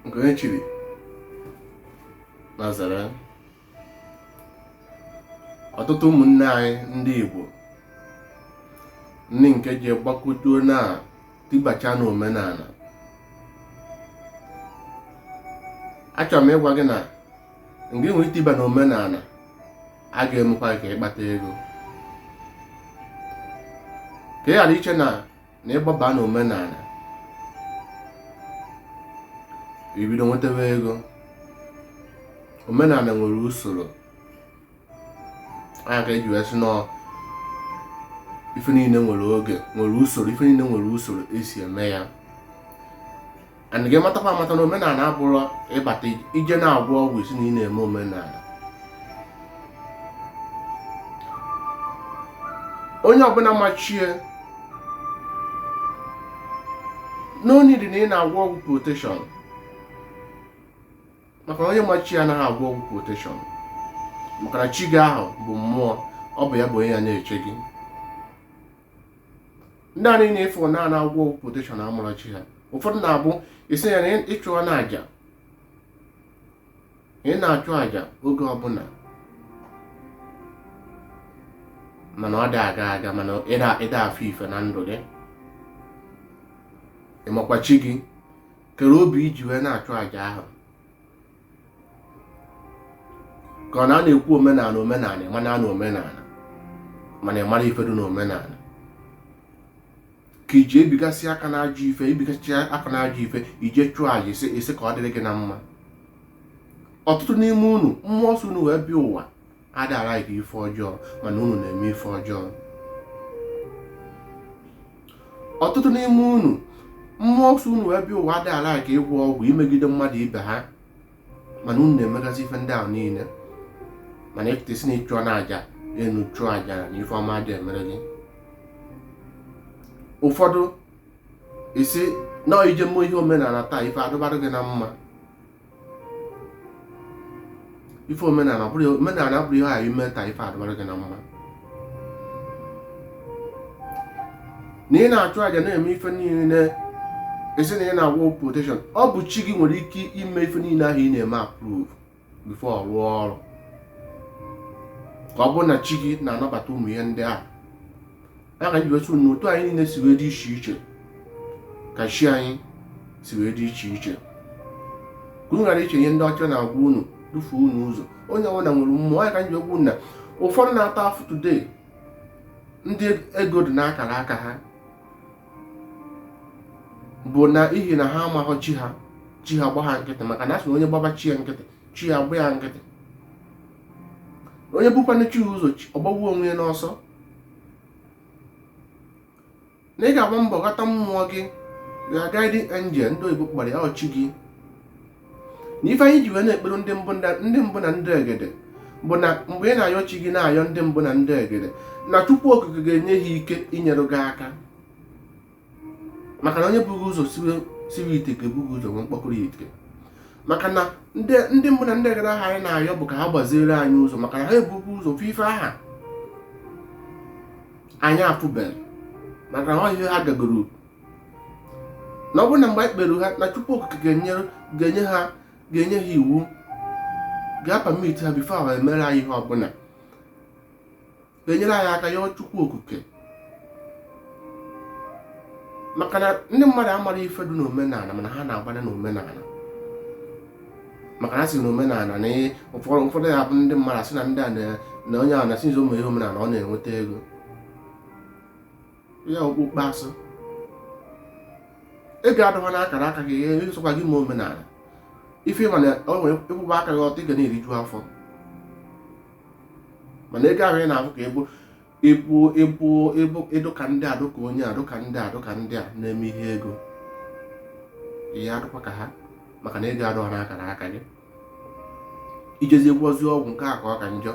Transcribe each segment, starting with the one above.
nke onye chiri nya zere ọtụtụ ụmụnne anyị ndị Igbo ndị nke ji gbakotuo na tibacha na omenala achọrọ m ịgwa gị na nke nwere itiba na omenala a ga-emekwa ka ịkpata ego ka ị ghara iche na na ịgbaba na omenala ibido nwetawa ego omenala nwere usoro ọ nya ka eji wee sị na ife niile nwere oge nwere usoro ife niile nwere usoro esi eme ya and gị matakwa amata na omenala abụrọ ịbata ije na-agwọ ọgwụ ị sị na ị na-eme omenala onye ọbụla ma chi ya no need na ị na-agwọ ọgwụ protection maka na onye ma chi ya anaghị agwọ ọgwụ protection maka na chi gị ahụ bụ mmụọ ọ bụ ya bụ onye ya na-eche gị ndị a niile ịfụ na ana agwọ ọgwụ protection amarọ chi ha ụfọdụ na-abụ ị sị ya na ị chụọna aja ị na-achụ aja oge ọbụla mana ọ da aga aga mana ị da afụ ife na ndụ gị ịmakwa chi gị kere obi iji wee na-achụ aja ahụ ka ọ na a na-ekwu omenala omenala mana a na omenala mana ị marọ ife dị n'omenala ka iji ebigasị aka n'ajọ ife ibigasị aka n'ajọ ife ije chụọ aja ị sị ka ọ dịrị gị na mma ọtụtụ n'ime unu mmụọ so unu wee bịa ụwa ada alike ife ọjọọ mana unu na-eme ife ọjọọ ọtụtụ n'ime unu mmụọ so unu wee bịa ụwa ada alike ịgwọ ọgwụ imegide mmadụ ibe ha mana unu na-emegasị ife ndị ahụ niile mana ịpụta ị sị na ị chụọna aja enu chụọ aja ana ife ọma da emere gị ụfọdụ ị sị na ije mee ihe omenala taa ife adịbara gị na mma ife omenala abụrọ ihe i mee taa ife adịbara gị na mma na ị na-achụ aja na-eme ife niile ị sị na ị na-agwọ protection ọ bụ chi gị nwere ike ime ife niile ahụ ị na-eme approve before ọ rụọ ọrụ ka ọ bụrụ na chi gị na-anabata ụmụ ihe ndị ahụ ya ka m ji wee sị na otu anyị niile si wee dị iche iche ka chi anyị si wee dị iche iche ka unu ghara iche ihe ndị ọcha na-agwa unu dufuo unu ụzọ onye ọbụla nwere mmụọ ọ ya ka m ji ekwu na ụfọdụ na-ata afụ today ndị ego dị n'akara aka ha bụ na ihi na ha amaghọ chi ha chi ha gba ha nkịtị maka na a sị na onye gbaba chi ya nkịtị chi ya agba ya nkịtị onye bukwanụ chi ụzọ ọ gbagbuo onwe ya n'ọsọ na ị ga-agba mbọ ghọta mmụọ gị na guardian angel ndị oyibo kpọrọ ya ọ chi gị na ife anyị ji wee na-ekpere ndị mbụ ndị mbụ na ndị egede bụ na mgbe ị na-ayọ chi gị na-ayọ ndị mbụ na ndị egede na Chukwu Okike ga-enye ha ike inyere gị aka maka na onye bu gị ụzọ siwe ite ka ebu gị ụzọ nwee mkpọkọrọ ite maka na ndị mbụ na ndị egede ahụ anyị na-ayọ bụ ka ha gbaziere anyị ụzọ maka na ha ebugo ụzọ fụ ife ahụ anyị afụbeghị maka na ọ ihe ha gagoro na ọ bụrụ na mgbe anyị kpere ha na Chukwu Okike ga-enye ha ga-enye ha iwu ga-apermit ha before ha emere anyị ihe ọbụla na-enyere anyị aka yọọ Chukwu Okike maka na ndị mmadụ amara ife dị n'omenala mana ha na-agbanye n'omenala maka na a sị na omenala na ụfọdụ ụfọdụ ya bụ ndị mmadụ asị na ndị a na onye ahụ na since o mewe ihe omenala ọ na-enweta ego ya okpokpo asị ego adụghọ n'akara aka gị ihe ịsọkwa gị ma omenala ife ị ma na o nwere ị kwụba aka gị ọtọ ị ga na-eriju afọ mana ego ahụ ị na-afụ ka ebo ịpụ ịpụ ịbụ ị dụka ndị a dụka onye a dụka ndị a dụka ndị a na-eme ihe ego ị ya-adụkwa ka ha maka na ego adụghọ n'akara aka gị i jezi gwọzi ọgwụ nke a ka ọ ka njọ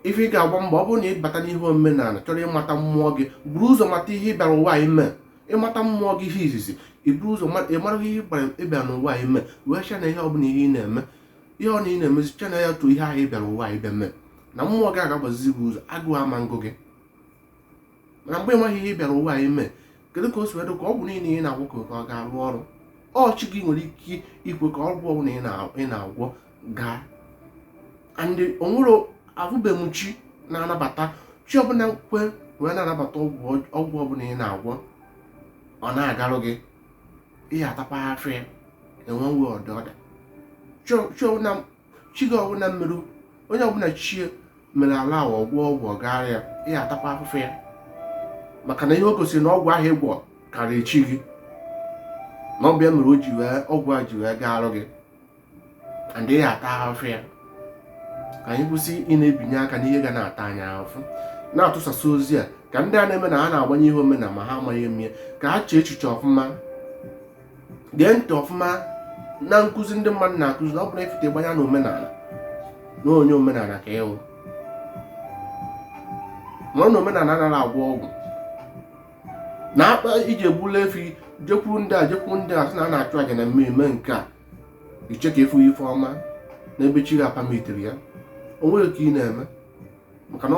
ife ị ga-agba mbọ ọ bụrụ na ị bata n'ihe omenala chọrọ ịmata mmụọ gị buru ụzọ mata ihe ị bịara ụwa ime ịmata mmụọ gị ihe izizi iburu ụzọ ịmara ihe ị bịara n'ụwa ime wee channel ihe ọ bụla ihe ị na-eme ihe ọ na ị na-emezi channel ya to ihe ahụ ị bịara ụwa ị bịa mee na mmụọ gị ga-agbazizi gị ụzọ agụụ ama ngụ gị mana mgbe ị maghị ihe ị bịara ụwa ime kedu ka o si wee dụ ka ọgwụ niile ị na-agwọ ka ọ ga-arụ ọrụ ọ chi gị nwere ike ikwe ka ọgwụ ọbụla ị na-agwọ gaa and o nwere afụbeghị m chi na-anabata chi ọbụla kwe wee na-anabata ọgwụ ọbụla ị na-agwọ ọ na-agarụ gị ị ya-atakwa afụ ya enwe nwe ọdịda chi gị ọbụla merụ onye ọbụla chi ya mere allow ọgwụ ọ gwọ ọ gaara ya ị ya-atakwa afụfụ ya maka na ihe o gosiri na ọgwụ ahụ ị gwọ karịa chi gị na ọ bụ ya mere o ji wee ọgwụ a ji wee na-agarụ gị and ị ya-ata afụfụ ya ka anyị kwụsị ị na-ebinye aka n'ihe ga na-ata anyị afụfụ na-atụsasị ozi a ka ndị a na-eme na ha na-agbanye ihe omenala ma ha amaghị eme ka ha chee echiche ọfụma gee ntị ọfụma na nkụzi ndị mmadụ na-akụzi na ọ bụrụ ị fụta gbanye na omenala na onye omenala ka ị wụ mara na omenala anaghị agwọ ọgwụ na akpa iji egbula efi jekwuru ndị a jekwuru ndị a sị na a na-achụ aja na mmemme nke a i chee ka ị fụ ife ọma n'ebe chi gị apamitighị ya o nweghị ka ị na-eme maka na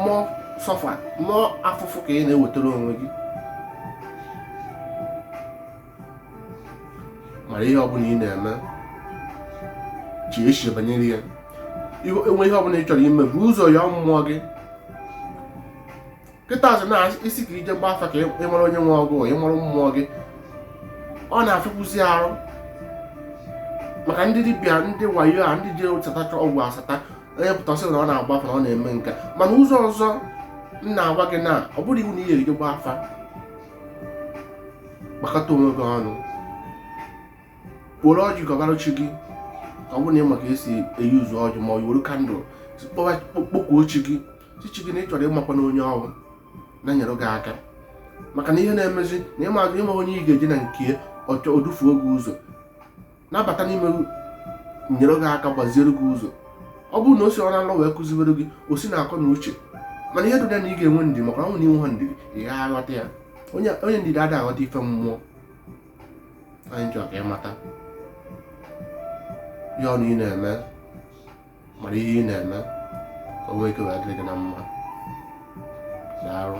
more suffer more afụfụ ka ị na-ewetara onwe gị mara ihe ọbụla ị na-eme chee echiche banyere ya e nwee ihe ọbụla ị chọrọ ime bu ụzọ ya mmụọ gị kịta a sị na ị sị ka i je gba afa ka ị mara onye nwe ọgụ ị mara mmụọ gị ọ na-afịakwuzi arụ maka ndị dibịa ndị wayo a ndị ji satacha ọgwụ asata onye pụta sị na ọ na-agba afa na ọ na-eme nke a mana ụzọ ọzọ m na-agwa gị na ọ bụrụ iwu na ị yaghị eje gba afa gbakọta onwe gị ọnụ were ọjị gọbara chi gị ọ bụrụ na ị ma ka esi eji nzu ọjị ma ọ were candle kpọkuo chi gị sị chi gị na ị chọrọ ịmakwa na onye ọrụ na-enyere gị aka maka na ihe na-emezi na ịma azụ ịma onye ị ga-eje na nke ọchọ o dufuo gị ụzọ nabata n'ime nyere gị aka gbaziere gị ụzọ ọ bụrụ na o si na nlọ wee kụziwere gị o si na akọ na uche mana ihe dụ ya na ị ga-enwe ndidi maka na ọ wụ na i nweghị ndidi ị gaghị aghọta ya onye ndidi adịghị aghọta ife mmụọ anyị chọrọ ka ị mata ihe ọ wụ ị na-eme mara ihe ị na-eme ka o nwee ike wee dịrị gị na mma daalụ